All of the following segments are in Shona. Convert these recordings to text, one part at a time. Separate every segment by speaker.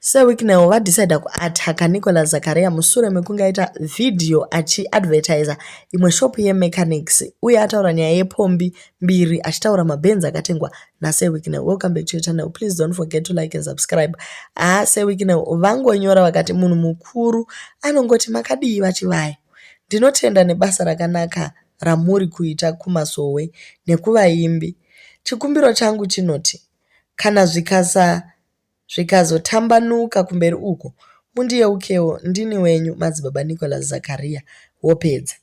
Speaker 1: Sir Wicknell vadecida kuataka Nicolas Zakaria musure mekunge aita vhidhiyo achiadvertiser imwe shop yemechanics uye ataura nyaya yepombi mbiri achitaura mabhenzi akatengwa naSir Wicknell. Welcome back to your channel. Please don't forget to like and subscribe. Ah, Sir Wicknell vangonyora vakati munhu mukuru anongoti makadii vachivaya. Ndinotenda nebasa rakanaka ramuri kuita kumasowe nekuvaimbi. Chikumbiro changu chinoti kana zvikasa zvikazotambanuka kumberi uko mundiyeukewo ndini wenyu madzibaba Nicholas Zakaria wopedza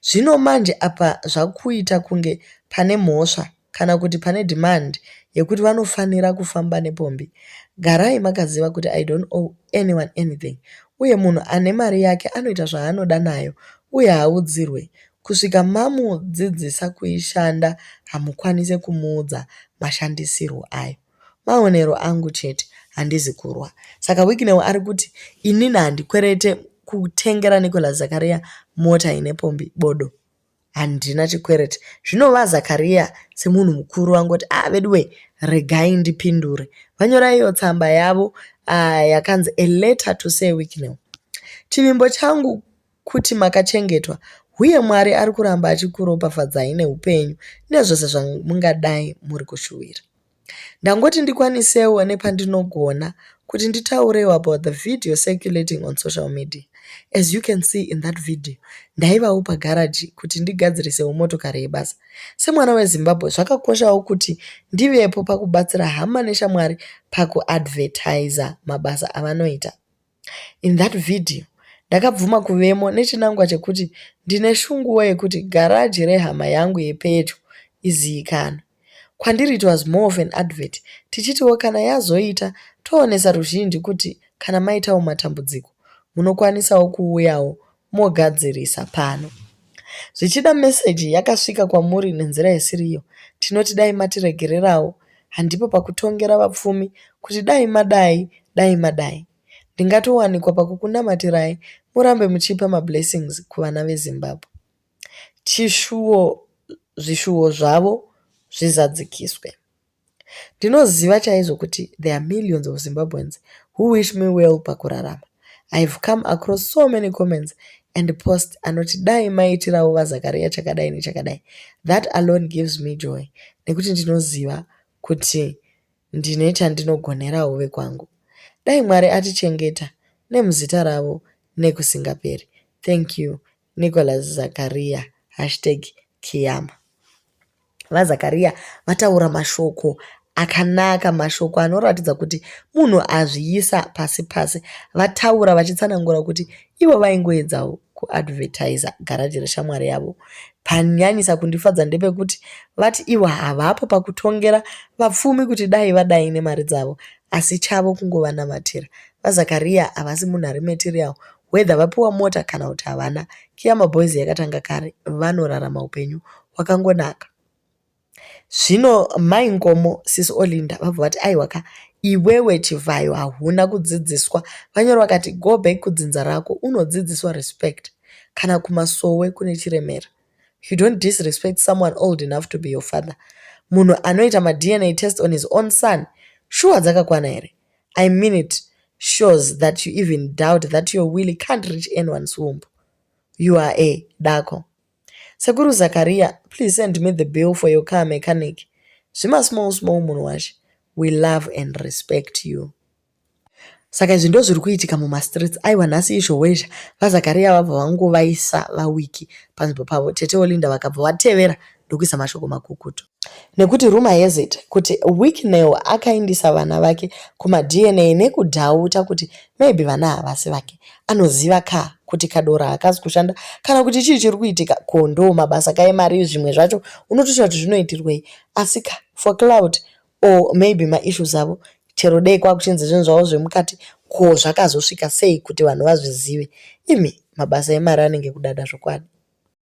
Speaker 1: zvino manje apa zvakuita kunge pane mhosva kana kuti pane demand yekuti vanofanira kufamba nepombi garai makaziva kuti i don't owe anyone anything uye munhu ane mari yake anoita zvaanoda nayo uye haudzirwe kusvika mamudzidzisa kuishanda hamukwanise kumuudza mashandisirwo ayo Maonero angu chete handizi kurwa. Saka Wicknell ari kuti inini handikwerete kutengera Nicholas Zakaria mota ine pombi bodo. Handina chikwerete. Zvino vaZakaria semunhu mukuru vangoti ah veduwe regai ndipindure. Vanyora iyo tsamba yavo ah, yakanzi a letter to say Wicknell. Chivimbo changu kuti makachengetwa huye Mwari ari kuramba achikuropafadzai neupenyu nezvose zvamungadai muri kushuwira. Ndangoti ndikwanisewo nepandinogona kuti nditaurewo about the video circulating on social media. As you can see in that video, ndaivawo pagaraji kuti ndigadzirisewo motokari yebasa. Semwana weZimbabwe, zvakakoshawo kuti ndivepo pakubatsira hama neshamwari pakuadvertiser mabasa avanoita. in that video ndakabvuma kuvemo nechinangwa chekuti ndine shunguwo yekuti garaji rehama yangu yepedyo iziikanwe kwandiri it was more of an advert tichitiwo kana yazoita toonesa ruzhinji kuti kana maitawo matambudziko munokwanisawo kuuyawo mogadzirisa pano. Zvichida meseji yakasvika kwamuri nenzira isiriyo, tinoti dai matiregererawo, handipo pakutongera vapfumi kuti dai madai, dai madai. Ndingatowanikwa pakukunamatirai murambe muchipa mablessings kuvana veZimbabwe. Chishuwo zvishuwo zvavo zvizadzikiswe. Ndinoziva chaizvo kuti there are millions of Zimbabweans who wish me well pakurarama. I have come across so many comments and post anoti dai maiitirawo vaZakaria chakadai nechakadai. That alone gives me joy nekuti ndinoziva kuti ndine chandinogonerawo vekwangu. Dai Mwari atichengeta nemuzita ravo nekusingaperi. Thank you Nicholas Zakaria, hashtag Kiyama. VaZakaria vataura mashoko akanaka, mashoko anoratidza kuti munhu azviyisa pasi pasi. Vataura vachitsanangura kuti ivo vaingoedzawo kuadvertiser garaji reshamwari yavo. Panyanyisa kundifadza ndepekuti vati ivo havapo pakutongera vapfumi kuti dai vadai nemari dzavo, asi chavo kungova namatira. VaZakaria havasi munhu ari material whether vapiwa mota kana kuti havana kiya maboys yakatanga kare vanorarama upenyu hwakangonaka zvino mai nkomo sisi olinda vabva vati aiwa ka iwewe chivhayo hauna kudzidziswa vanyoro vakati go back kudzinza rako unodzidziswa respect kana kumasowe kune chiremera you don't disrespect someone old enough to be your father munhu anoita madna test on his own son shuwa dzakakwana here I mean it shows that you even doubt that your willy can't reach anyone's womb. You are a dako. Sekuru Zakaria, please send me the bill for your car mechanic. Zvima small small munhu washe. We love and respect you. Saka izvi ndozviri kuitika mumastreets aiwa nhasi izvowezha vazakaria vabva vangovaisa vawiki panzvimbo pavo tete olinda vakabva vatevera ndokuisa mashoko makukutu nekuti rumor has it kuti Wicknell akaindisa vana vake kumaDNA nekudhauta kuti maybe vana havasi vake. Anoziva ka kuti kadora hakazi kushanda kana kuti chii chiri kuitika ko ndo mabasa ka emari zvimwe zvacho unotoshaya kuti zvinoitirwei asi ka for cloud or maybe maissues avo chero dei kwakuchinzi zvinhu zvavo zvemukati ko zvakazosvika sei kuti vanhu vazvizive. Imi mabasa emari anenge kudada zvokwadi.